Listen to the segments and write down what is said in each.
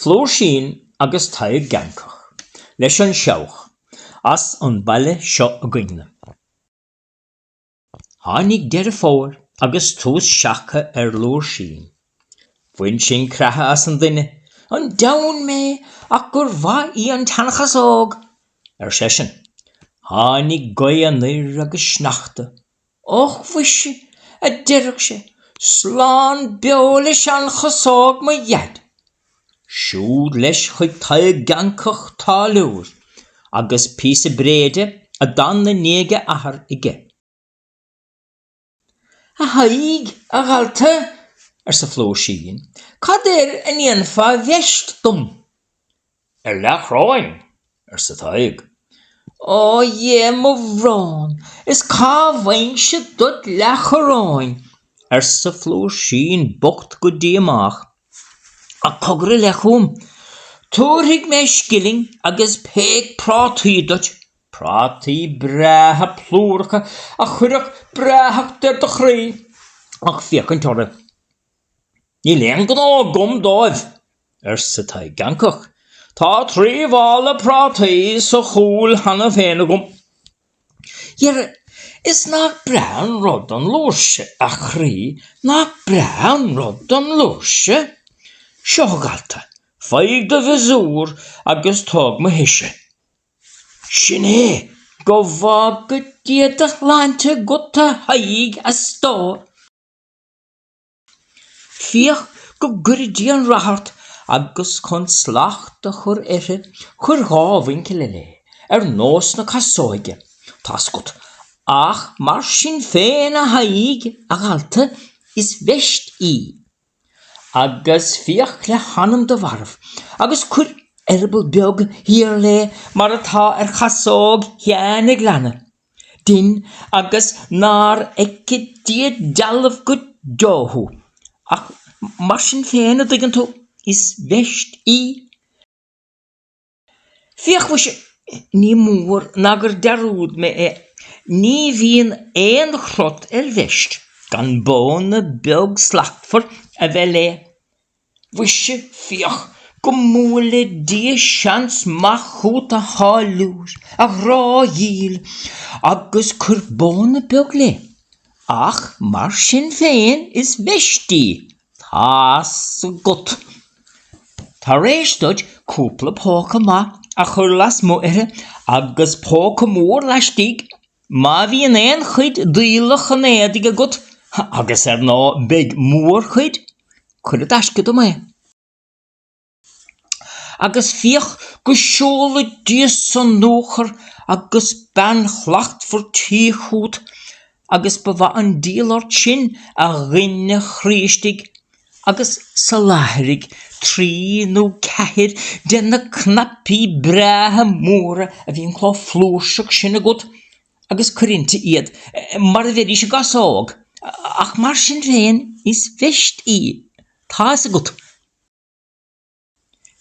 Flúirsín agus Tadhg Geancach leis an seabhac as an baile seo againn-ne. Tháinig Deireadh Fómhair agus tús seaca ar Fhlúirsín. Bhain sin creathadh as an duine. An deamhan mé ach gur mhaith í an tseanchasóg! ar seisean. Tháinig gaoth anoir agus sneachta Och mhuise, a deireadh sé, slán beo le seanchasóg mo dhaid! Siúd leis chuig Tadhg Geancach táilliúir, agus píosa bréide a d'fhan i ndiaidh a athar aige. A Thaidhg, a dhalta, arsa Flúirsín, cad air a ndéanfá veist dom? ar leathchoróin, arsa Tadhg. Ó dhe, mo bhrón, is cá bhfaighimse duit leathchoróin? arsa Flúirsín bocht go díomách. Ach cogar i leith chúm. Tabharfaidh mé scilling agus peic prátaí duit, prátaí breátha plúracha a chuirfeadh breáthacht ar do chroí ach féachaint orthu. Níl aon ghnó agam dóibh, arsa Tadhg Geancach. Tá trí mhála prátaí sa chúl cheana féin agam. Dhera, is nach breá an rud an fhlúirse, a chroí, nach breá an rud an fhlúirse? Seo, a dhalta, faigh do mhiosúr agus tóg mo thoise. Sin é! Go bhfága Dia do shláinte agat, a Thaidhg, a stór! Féach go gcuire Dia an rath ort, agus chun slacht a chur uirthi, cuir dhá mhuinchille léi, ar nós na casóige, tá's agat, ach mar sin féin a Thaidhg, a dhalta, is veist í. Agus féach le hanam do mharbh, agus cuir eireaball beag thiar léi mar atá ar chasóg Sheáin a' Ghleanna. Déin agus nár fheice Dia dealbh go deo thú. Ach mar sin féin, a' dtuigeann tú, is veist í. Féach muise, ní mór ná gur dhearúd mé é, ní bhíonn aon chrot ar veist gan bóna beag slachtmhar a bheith léi. Mhuise, féach go mbuaile Dia seans maith chút, a tháilliúir, a ghrá dhil, agus cuir bóna beag léi, ach mar sin féin is veist í, tá's agat. Tar éis duit cúpla póca maith a chur lasmu' uirthi, agus póca mór laistigh, Má bhíonn aon chuid d'fhuílleach an éadaigh agat, agus ar ndóigh beidh mórchuid, cuir i dtaisce dom é, agus féach go seola Dia sonuachar agus bean shlachtmhar tí chút, agus ba mhaith an díol ort sin, a dhuine chroí istigh, agus soláthraigh trí nó ceathair de na cnaipí breátha móra a bhíonn chomh flúirseach sin agat agus cuir inti iad, mar a bheidís i gcasóg, ach mar sin féin is veist í, tá fhios agat.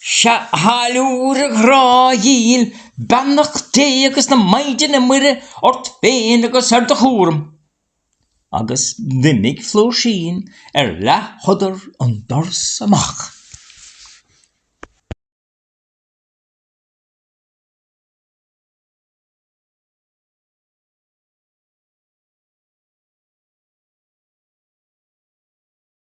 Sea, a tháilliúir, a ghrá dhíl, beannacht Dé agus na Maighdine Muire ort féin agus ar do chúram. Agus d'imigh Flúirsín ar leathshodar an doras amach.